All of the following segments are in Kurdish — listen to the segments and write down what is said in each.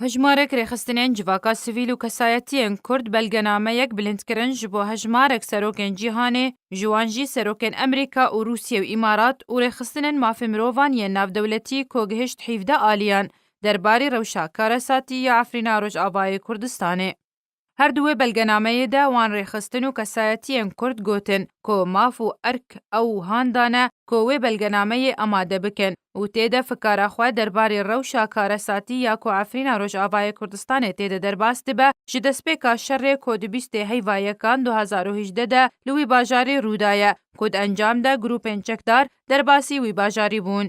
Hejmarek rêxistinên civaka sivîl û kesayetiyên Kurd belgenameyek bilind kirin ji bo hejmarek serokên cîhanê, ji wan jî serokên Emerîka û Rûsiyê û Îmarat û rêxistinên mafê mirovan yên navdewletî ku gihişt hîvdeh aliyan derbarî rewşa karesatî ya Efrîna Rojavayê Kurdistanê. Her di wê belgenameyê de wan rêxistin û kesayetiyên Kurd gotin ku maf û erk ew wihan dane ku wê belgenameyê amade bikin û tê de fikara xwe derbarê rewşa karesatî ya ku Efrîna Rojavayê Kurdistanê tê de derbas dibe ji destpêka şerê ku di bîstê heyva yekan du hezar û hejdeh de li wî bajarê rûdaye ku di encam de grûpên çekdar derbasî wî bajarî bûn.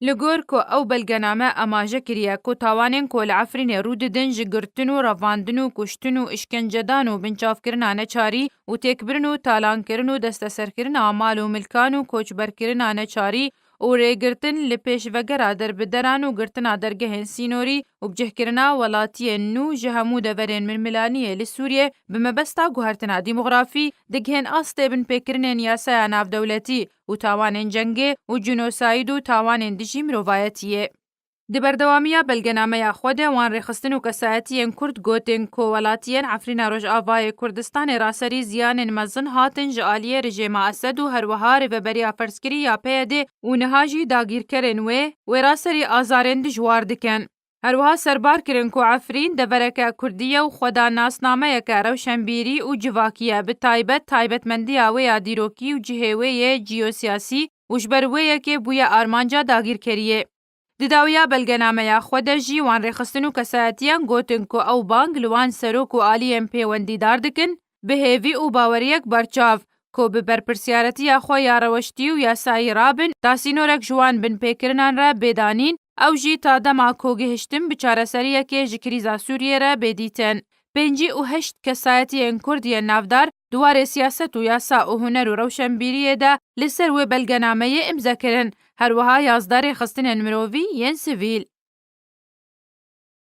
Li gor ku ew belgename amaje kiriye ku tawanên ku li Efrînê rû didin ji girtin û revandin û kuştin û îşkencedan û binçavkirina neçarî û têkbirin û talankirin û desteserkirina mal û milkan û koçberkirina neçarî û rêgirtin li pêşvegera derbideran û girtina dergehên sînorî û bicihkirina welatiyên nû ji hemû deverên milmilaniyê li Sûriyê bi mebesta guhertina dîmografî dighên astê binpêkirinên yasaya navdewletî û û tawanên cengê û cînosayîd û tawanên dijî mirovayetiyê. Di berdewamiya belgenameya xwe de wan rêxistin û kesayetiyên Kurd gotin ku welatiyên Efrîna Rojavayê Kurdistanê ra serî ziyanên mezin hatin ji aliyê rijêma Esed û herwiha rêveberiya ferzkirî ya PYDê û niha jî dagîrkerên wê wê ra serî azarên dijwar dikin. Her wiha serbar kirin ku Efrîn devereke kurdî ye û xwe da nasnameyeke rewşenbîrî û civakî ye, bi taybet taybetmendiya wê ya dîrokî û cihê wê yê cîyosîyasî û ji ber wê yekê bûye armanca dagîrkeriyê. Di dawiya belgenameya xwe de jî wan rêxistin û kesayetiyan gotin ku ew bang li wan serok û aliyên pêwendîdar dikin, bi hêvî û baweriyek berçav ku bi berpirsyaretiya xwe ya reweştî û yasayî rabin ta sînorek ji wan binpêkirinan re bê danîn ew jî ta dema ku gihiştin bi çareseriyekê ji krîza Sûriyê re bê dîtin. Pêncî û heşt kesayetiyên Kurd yên navdar di warê siyaset û yasa û huner û rewşenbîriyê de li ser wê belgenameyê îmze kirin, her wiha yazdeh rêxistinên mirovî yên sivîl.